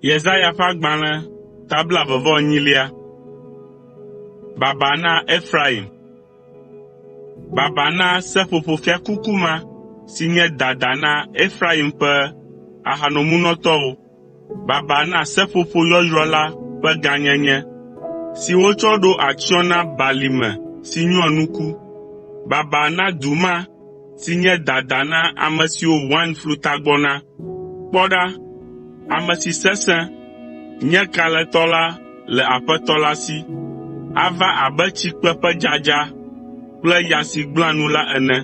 Yesaya ƒe agbalẽ ta blaeve-vɔ-enyilia. Baba na Efraim! Baba na seƒoƒo fiakuku ma si nye dada na Efraim ƒe ahanomunɔtɔwo. Baba na seƒoƒo yɔyrɔ la ƒe gãnyenye, si wotsɔ ɖo atsyɔ̃ na balime si nyoa nuku! Baba na du ma si nye dada na ame siwo wain flutagbɔ na! Kpɔ ɖa, ame si sesẽ, nye kalẽtɔ la le Aƒetɔ la si. Ava abe tsikpe ƒe dzadza kple ya si gblẽa nu la ene.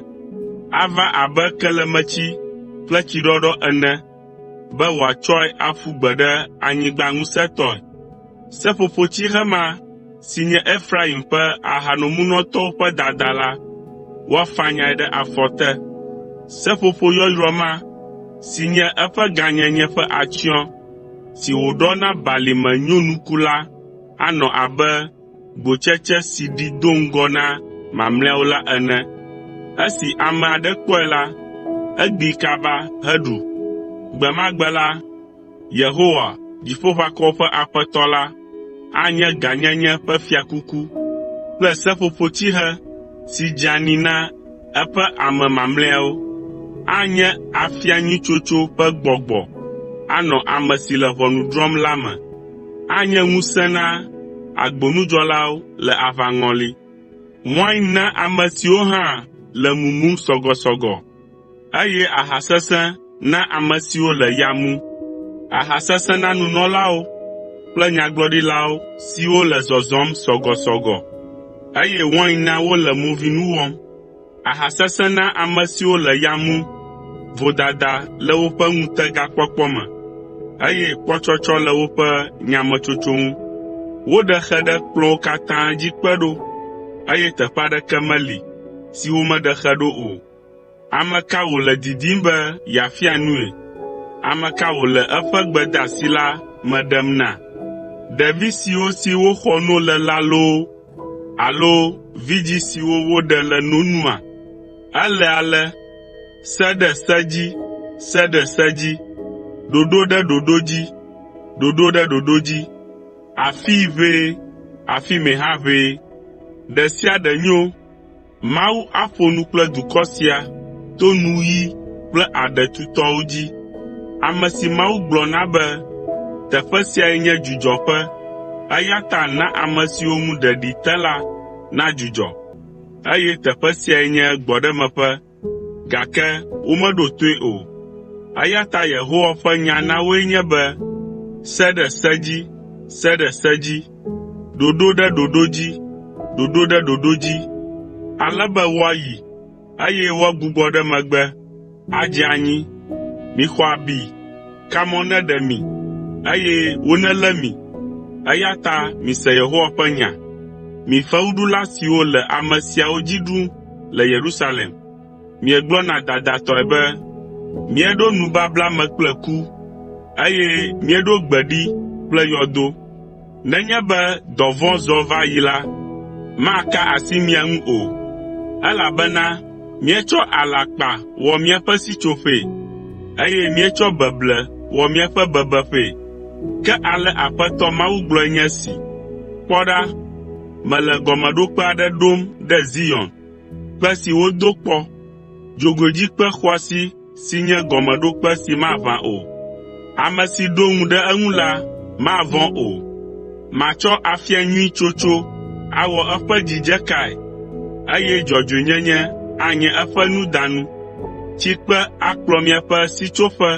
Ava abe kelemetsi kple tsiɖɔɖɔ ene be wòatsɔe aƒu gbe ɖe anyigba ŋusẽtɔe. Seƒoƒotsihe ma si nye Efraim ƒe ahanomunɔtɔwo ƒe dada la, woafanyae ɖe afɔ te. Seƒoƒo yɔyrɔ ma, si nye eƒe gãnyenye ƒe atsyɔ̃, si wòɖɔ na balime nyonuku la anɔ abe gbotsetse si ɖi do ŋgɔ na mamlɛawo la ene. Esi ame aɖe kpɔe la, egbi kaba heɖu. Gbe ma gbe la, Yehowa, Dziƒoʋakɔwo ƒe Aƒetɔ la, anye gãnyenye ƒe fiakuku kple seƒoƒotsihe si dzeani na eƒe ame mamlɛawo. Anye afia nyui tsotso ƒe gbɔgbɔ anɔ ame si le ʋɔnu drɔ̃m la me. Anye ŋusẽ na agbonudzɔlawo le aʋaŋɔli. Wain na ame siwo hã le mumum sɔgɔsɔgɔ, eye aha sesẽ na ame siwo le ya mum. Aha sesẽ na nunɔlawo kple nyagblɔɖilawo siwo le zɔzɔm sɔgɔsɔgɔ, eye wain na wole movinu wɔm. Aha sesẽ na ame siwo le ya mum, vodada le woƒe ŋutegakpɔkpɔ me, eye kpɔtsɔtsɔ le woƒe nyametsotso ŋu. Woɖe xe ɖe kplɔ̃wo katã dzi kpe ɖo, eye teƒe aɖeke meli si womeɖe xe ɖo o. Ame ka wòle didim be yeafia nui? Ame ka wòle eƒe gbedeasi la me ɖem na? Ɖevi siwo si woxɔ no le la loo Alo vidzĩ siwo woɖe le no nua? Ele ale, “Se ɖe se dzi, se ɖe se dzi, ɖoɖo ɖe ɖoɖo dzi, ɖoɖo ɖe ɖoɖo dzi, afii ʋɛ, afi mɛ hã ʋɛ, ɖe sia ɖe nyo.” Mawu aƒo nu kple dukɔ sia to nuɣi kple aɖe tutɔwo dzi, ame si Mawu gblɔ na be, “Teƒe siae nye dzudzɔƒe, eya ta na ame siwo ŋu ɖeɖi te la nadzudzɔ,” eye “Teƒe siae nye gbɔɖemeƒe, gake womeɖo toe o.” Eya ta Yehowa ƒe nya na woe nye be, “Se ɖe se dzi! Se ɖe se dzi!” ɖoɖo ɖe ɖoɖo dzi, ɖoɖo ɖe ɖoɖo dzi, ale be woayi, eye woagbugbɔ ɖe megbe adze anyi. Mixɔ abi, kamɔ neɖe mi, eye wonelé mi. Eya ta mise Yehowa ƒe nya, mi fewuɖula siwo le ame siawo dzi ɖum le Yerusalem. Miegblɔna dadatɔe be, ‘Míeɖo nubabla me kple ku, eye míeɖo gbe ɖi kple yɔdo.’ Nenye be dɔvɔ̃ zɔ va yi la, maka asi mia ŋu o, elabena míetsɔ alakpa wɔ míaƒe sitsoƒee, eye míetsɔ beble wɔ míaƒe bebeƒee. Ke ale Aƒetɔ Mawu gblɔe nye esi: ‘Kpɔ ɖa, mele gɔmeɖokpe aɖe ɖom ɖe Zion, Kpe si wodo kpɔ, dzogoedzikpe xɔasi si nye gɔmeɖokpe si maʋã o. Ame si ɖo ŋu ɖe eŋu la mavɔ̃ o. Matsɔ afia nyui tsotso awɔ eƒe dzidzekae, eye dzɔdzɔenyenye anye eƒe nudanu. Tsikpe akplɔ miaƒe sitsoƒe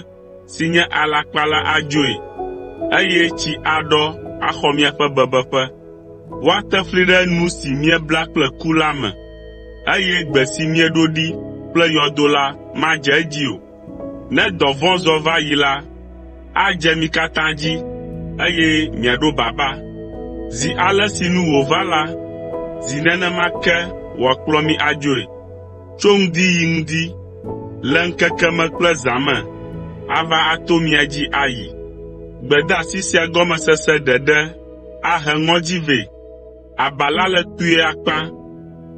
si nye alakpa la adzoe, eye tsi aɖɔ axɔ miaƒe bebeƒe. Woate fli ɖe nu si miebla kple ku la me, eye gbe si mieɖo ɖi kple yɔdo la madze edzi o. Ne dɔvɔ̃ zɔ va yi la, adze mi katã dzi, eye miaɖo baba. Zi ale si nu wòva la, zi nenema ke wòakplɔ mi adzoe. tso ŋdi yi ŋdi, le ŋkeke me kple zã me ava ato mia dzi ayi. Gbedeasi sia gɔmesese ɖeɖe ahe ŋɔdzi vɛ. Aba la le kpuie akpa,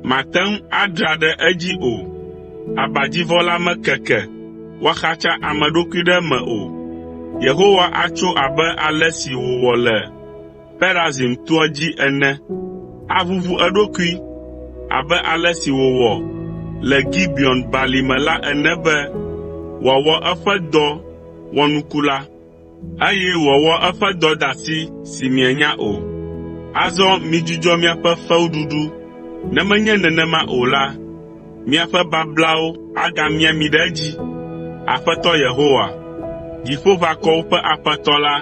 màte ŋu adra ɖe edzi o. Abadzivɔ la mekeke woaxatsa ame ɖokui ɖe eme o. Yehowa atso abe ale si wòwɔ le Perazim toa dzi ene, aʋuʋu eɖokui abe ale si wòwɔ le Gibeon Balime la ene be wòawɔ eƒe dɔ wɔnuku la, eye wòawɔ eƒe dɔdeasi si mienya o. Azɔ midzudzɔ miaƒe fewuɖuɖu, ne menye nenema o la, miaƒe bablawo agamia mi ɖe edzi. Aƒetɔ Yehowa, Dziƒoʋakɔwo ƒe Aƒetɔ la,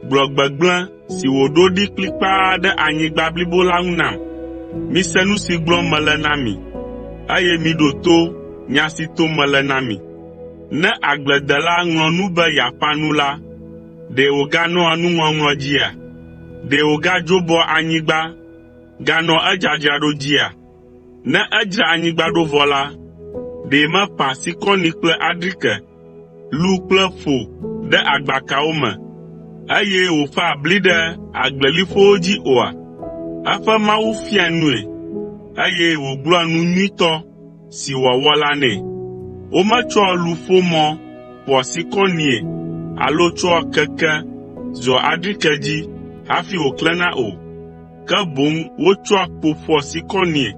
gblɔ gbegblẽ si wòɖo ɖi kplikpaa ɖe anyigba blibo la ŋu nam. Mise nu si gblɔm mele na mi, eye miɖo to nya si tom mele na mi. Ne agbledela ŋlɔ nu be yeaƒã nu la, ɖe wòganɔa nuŋɔŋlɔ dzia? Ɖe wògadzobɔa anyigba ganɔa edzadzraɖo dzia? Ne edzra anyigba ɖo vɔ la, ɖe meƒã sikɔni kple adrike, lu kple ƒo ɖe agbakawo me, eye wòƒãa bli ɖe agbleliƒowo dzi oa? Eƒe Mawu fiaa nui, eye wògblɔa nu nyuitɔ si wòawɔ la nɛ. Wometsɔa luƒomɔ ƒoa sikɔnie alo tsɔa keke zɔa adrike dzi hafi wòklẽna o. ke boŋ wotsɔa kpo ƒoa sikɔnie,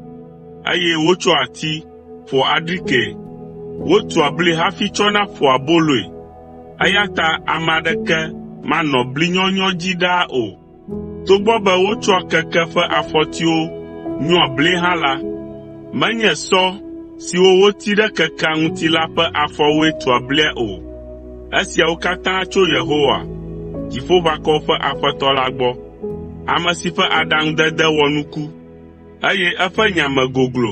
eye wotsɔa ati ƒoa adrikee. Wotua bli hafi tsɔna ƒoa aboloe, eya ta ame aɖeke manɔ bli nyɔnyɔ dzi ɖaa o. Togbɔ be wotsɔa keke ƒe afɔtiwo nyɔa blie hã la, menye sɔ siwo woti ɖe kekea ŋuti la ƒe afɔwoe tua blia o. Esiawo katã tso Yehowa, Dziƒoʋakɔwo ƒe Aƒetɔ la gbɔ. ame si ƒe aɖaŋudede wɔ nuku, eye eƒe nya me goglo.